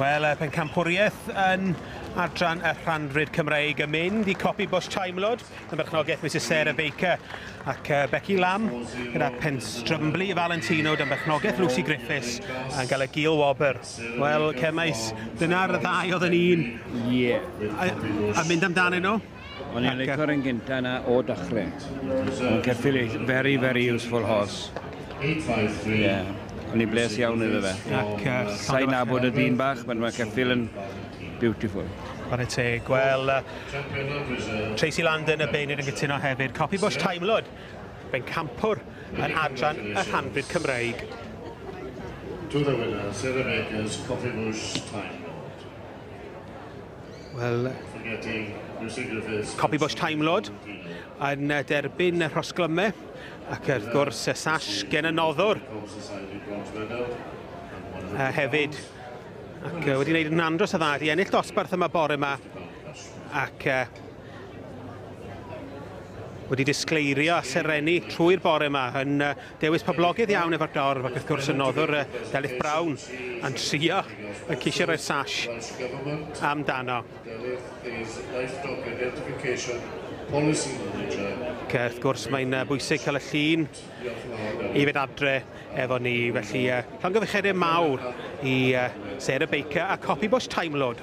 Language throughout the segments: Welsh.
Wel, y pencampwriaeth yn adran y rhandryd Cymreig yn mynd i copi bws Timelod, y merchnogaeth Mrs Sarah Baker ac uh, Becky Lamb, gyda penstrymblu Valentino dan berchnogaeth Lucy Griffiths yn cael y gil wobr. Wel, cemais, dyna'r ddau oedd yn un. Ie. Yeah. A, a mynd amdanyn nhw? O'n i'n licio'r un gynta yna o dachre. O'n ceffil ei, very, very useful horse. Ie, o'n i'n bles iawn iddo fe. Ac, uh, Sain nabod y dyn bach, mae'n mae ceffil yn beautiful. Chwarae teg. Wel, uh, Tracy Landon y Beinir yn gytuno hefyd. Copi Bush Timelod, fe'n campwr yn adran y rhanfyd Cymraeg. To the winner, Sarah Bakers, Coffee Bush Timelod. Wel, Copy Bush Time Lord yn uh, derbyn y rhosglyme ac wrth gwrs y sash gen y noddwr uh, hefyd ac uh, wedi gwneud yn andros o dda i ennill dosbarth yma bore yma ac uh, wedi disgleirio a serennu trwy'r bore yma yn uh, Dewis poblogaidd iawn efo'r dorf ac wrth gwrs y noddwr yy Delyth Brown yn trio yn ceisio rhoi'r sash amdano. Ac wrth gwrs mae'n yy bwysig cael y llun i fynd adre efo ni felly yy llongyfarchiadau mawr i yy Sarah Baker a Copy Bush Time Lord.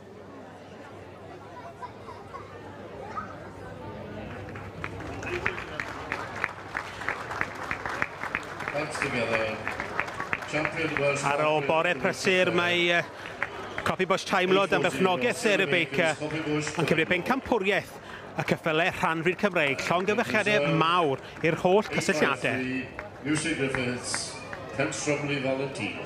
Ar ôl bore prysur, mae uh, Coffee Bush Time Lord am berchnogaeth Sarah Baker yn cymryd bencampwriaeth y cyffyle rhan rhydd Cymreig, llongyfechiadau mawr i'r holl cysylltiadau. Music Griffiths, Kent Stromley Volunteer.